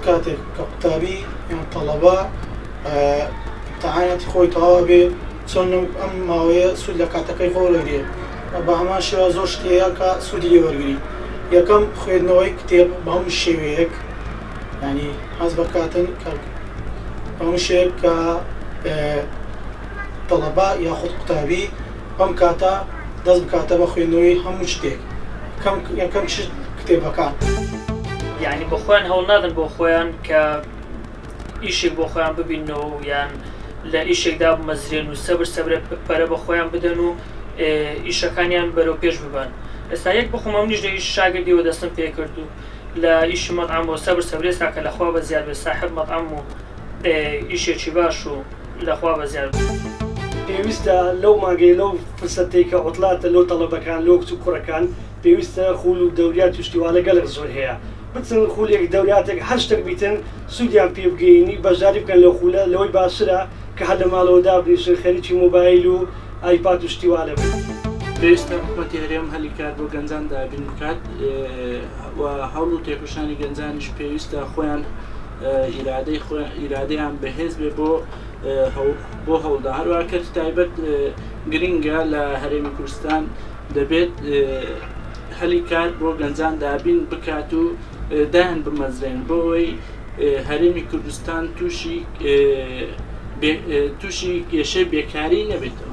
کاتێک کە قوتابی یان تەڵەبە تەعاەتی خۆی تەواوە بێ چۆن ئەم ماوەیە سوود لە کاتەکەی خۆ لەگرێ بە هەمان شێوە زۆر شتەیە کە سوودی لێ وەرگری یەکەم خوێندنەوەی کتێب بەم شێوەیەک یانی حەز بە کاتن کەڵک هەموو شێک کە تەڵەبا یاخود قوتابی بەم کاتە دەست بکاتە بە خوێندنەوەی هەموو شتێک کەم یەکەم چ کتێبەکان یعنی بە خۆیان هەوڵ نادن بۆ خۆیان کە ئیشێک بۆ خۆیان ببینەوە و یان لە ئیشێکدا بمەزرێن و سەبر سەبرە پەرە بە خۆیان بدەن و ئیشەکانیان بەرەو پێش ببن ئێستا یەک بخۆمە منیش لە شاگردیەوە دەستم پێ کردو لە ئیشی مەتعەم و سەبر سەبرێ ساکە لە خوا بە زیاد بێ ساحێب مەتعەم و ئێ ئیشێکی باش و لە خوا بە زیاد بێ. پێویستە لەو مانگەی لەو فرسەتەی کە عوتلاتە لۆ تەڵەبەکان لۆ کچ و کوڕەکان پێویستە خوول و دەوریات و شتی وا لە گەلەک زۆر هەیە بچن خوولێک دەوریاتێک هەر شتەک بیتن سوودیان پی بگەینی بەژداری بکەن لەو خوولە لەوەی باشترە کە هەر لە ماڵەوە دابنیشن خەریکی مۆبایل و ئایپاد و شتی وا لێ بکەن. پێویستە حکومەتی هەرێم هەلی کار بۆ گەنجان دابین بکات و هەوڵ و تێکۆشانی گەنجانیش پێویستە خۆیان ئیرادەی خۆیان ئیرادەیان بەهێز بێ بۆ بۆ هەوڵدا هەروە کەرتی تایبەت گرنگە لە هەرێمی کوردستان دەبێت هەلی کار بۆ گەنجان دابین بکات و دایان بمەزرێن بۆ ئەوەی هەرێمی کوردستان تووشی تووشی کێشەی بێکاری نەبێتەوە.